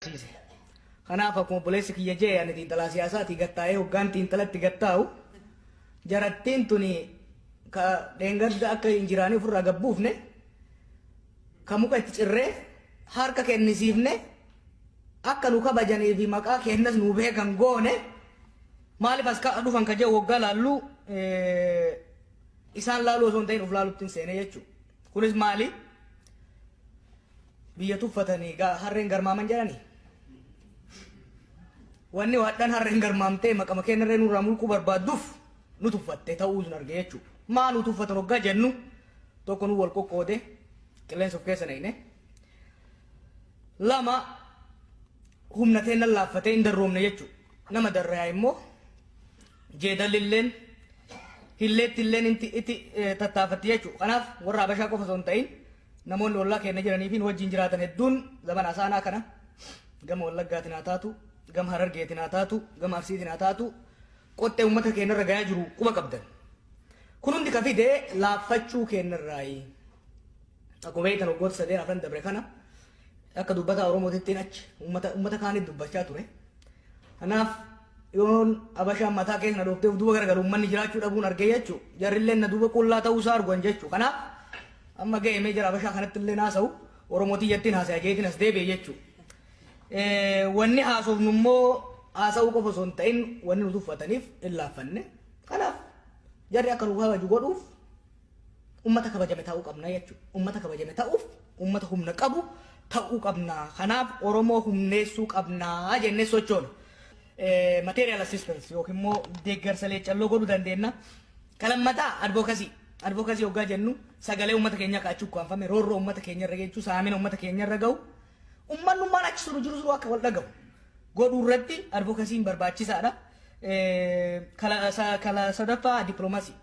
barsiise. Kanaaf akkuma obboleessi kiyya jee ani xiinxalaa siyaasaatii gattaa'ee hoggaan xiinxalatti gattaa'u jarattiin tuni ka dheengadda akka hin jiraanee ofirraa gabbuufne ka muka itti cirree harka kennisiifne akka nu kabajanii fi maqaa kennas nu beekan goone maaliif as ka dhufan ka jee waggaa laalluu Isaan laaluu osoo hin ta'in of laaluttin seene jechuu. Kunis maali? Biyya tuffatanii gaa harreen garmaaman jedhani. Wanni hadhan harreen garmaamtee maqama keenyarree nurraa mulquu barbaadduuf nu tuffatte ta'uu sun arge jechuu. Maa nu tuffatan hoggaa jennu tokko nu wal qoqqoode qilleensa of keessa naqne. Lama Humna teennan laaffatee hin darroomne jechuu. Nama darrayaa immoo jeedallilleen hilleettilleen inti itti tattaafatti jechuu. Kanaaf warra Habashaa qofa osoo hin ta'in namoonni ollaa keenya jiranii fi nu wajjin jiraatan hedduun zamana asaanaa kana gama Wallaggaatiin haa taatu, gama Harargeetiin haa taatu, gama Arsiitiin haa taatu qoxxee uummata keenya irra gayaa jiru quba qabdan. Kun hundi ka fide laaffachuu keenya irraayi. Akkuma beektan waggoota sadeen afran dabre kana Akka dubbataa Oromootittiin achi ummata ummata kaaniif dubbachaa ture. Kanaaf yoon abashaan mataa keessa na dhooftee of duuba garagalu ummanni jiraachuu dhabuun argee jechuu jarrilleen na duuba qullaa ta'uu isaa arguan jechuu kanaaf amma ga'e mee jara abashaa kanatti illee naasa'u Oromootii jettiin haasaya jeetiin as deebi'e jechuu. Wanni haasofnu immoo haasa'uu qofa osoo hin ta'in wanni nu tuffataniif hin laaffanne. Kanaaf jarri akka nu kabaju godhuuf Ummata kabajame ta'uu qabna jechuudha. Ummata kabajame ta'uuf ummata humna qabu ta'uu qabna. Kanaaf Oromoo humneessuu qabna jennee sochoona. Eh, Material assistance yookiin immoo deeggarsa leeccalloo godhuu dandeenya. Kalammataa advocacy. Advocacy hoggaa jennu sagalee ummata keenyaa kaa'achuu ukkaanfame roorroo ummata keenya irra geechuu saamina ummata keenya irra ga'u. Ummannummaan achi suru jiru suru akka wal dhaga'u. Godhuu irratti advokasiin barbaachisaadha. Eh, Kala sa- kala sadaffaa diplomasii.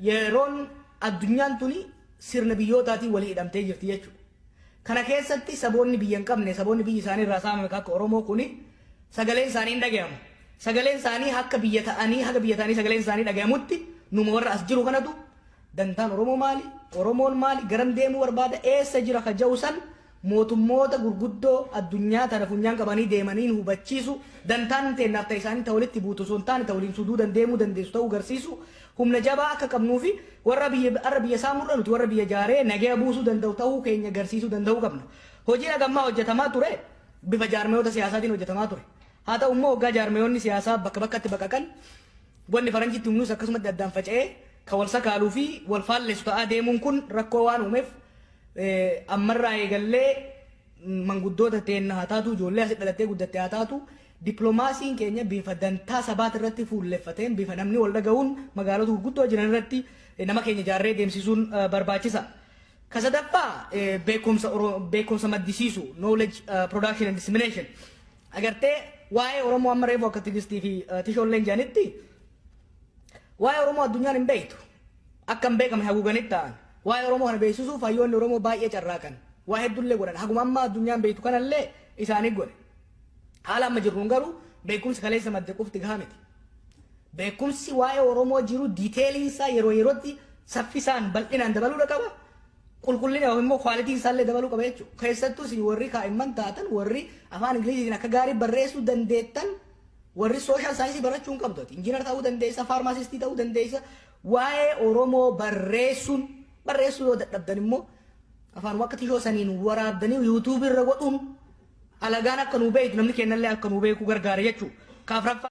yeroon addunyaan tuni sirna biyyootaatiin walii hidhamtee jirti jechuudha. Kana keessatti saboonni biyya hin qabne, saboonni biyyi isaanii irraa saamame akka Oromoo kuni sagaleen isaanii hin dhagayamu. Sagaleen isaanii akka biyya ta'anii, haga biyya ta'anii sagaleen isaanii dhagayamutti numa warra as jiru kanatu dantaan Oromoo maali? Oromoon maali? Garam deemuu barbaada? Eessa jira ka ja'u san mootummoota gurguddoo addunyaa tana funyaan qabanii deemaniin hubachiisu, dantaan inni teennaaf ta isaanii ta walitti buutu osoo hin taane ta waliin suduudan deemuu dandeessu ta'uu garsiisu, humna jabaa akka qabnuu fi warra biyya arra biyya saamuu irra nuti warra biyya jaaree nagaya buusuu danda'u ta'uu keenya garsiisuu danda'uu qabna. Hojiin haga ammaa hojjatamaa ture bifa jaarmayoota siyaasaatiin hojjatamaa ture. Haa ta'u immoo hoggaa jaarmayoonni siyaasaa bakka bakkatti baqaqan wanni faranji itti humnuus akkasumatti addaan faca'ee ka wal sakaaluu fi wal faallessu ta'aa deemuun kun rakkoo waan uumeef Ammarraa eegallee manguddoota teenna haa taatu, ijoollee asi dhalattee guddatte haa taatu, dippilomaasiin keenya bifa dantaa sabaati irratti fuulleffateen, bifa namni wal dhaga'uun magaalota gurguddoo jiran irratti nama keenya ijaarree deemsisuun barbaachisa. Ka sadaffaa beekumsa beekumsa maddisiisu, knowledge production and dissemination. Agartee waa'ee Oromoo amma reefu akka Tigistii fi Tishoolleen jedhanitti waa'ee Oromoo addunyaan hin beektu. Akka hin beekamne haguuganii taa'an. Waa'ee Oromoo kana beeksisuuf hayyoonni Oromoo baay'ee carraaqan. Waa heddullee godhan. Haguma amma addunyaan beektu kanallee isaanii godhe. Haala amma jirruun garuu beekumsi kaleessa madde qofti gahaa miti. Beekumsi waa'ee Oromoo jiru diiteeliin isaa yeroo yerootti saffisaan bal'inaan dabaluudha qaba. Qulqullina yookiin immoo kwaalitiin isaallee dabaluu qaba jechuudha. Keessattuu isin warri kaa'imman taatan warri afaan Ingiliziitiin akka gaarii barreessuu dandeettan Warri social science barachuu hin qabdu ati. Engineer ta'uu dandeessa, pharmacist ta'uu dandeessa. Waa'ee Oromoo barreessuun barreessuu yoo dadhabdan immoo afaanuma akka tishoo saniin waraabdanii YouTube irra godhuun alagaan akka nuu beektu namni kennallee akka nuu beeku gargaara jechuudha. Kaaf raffaa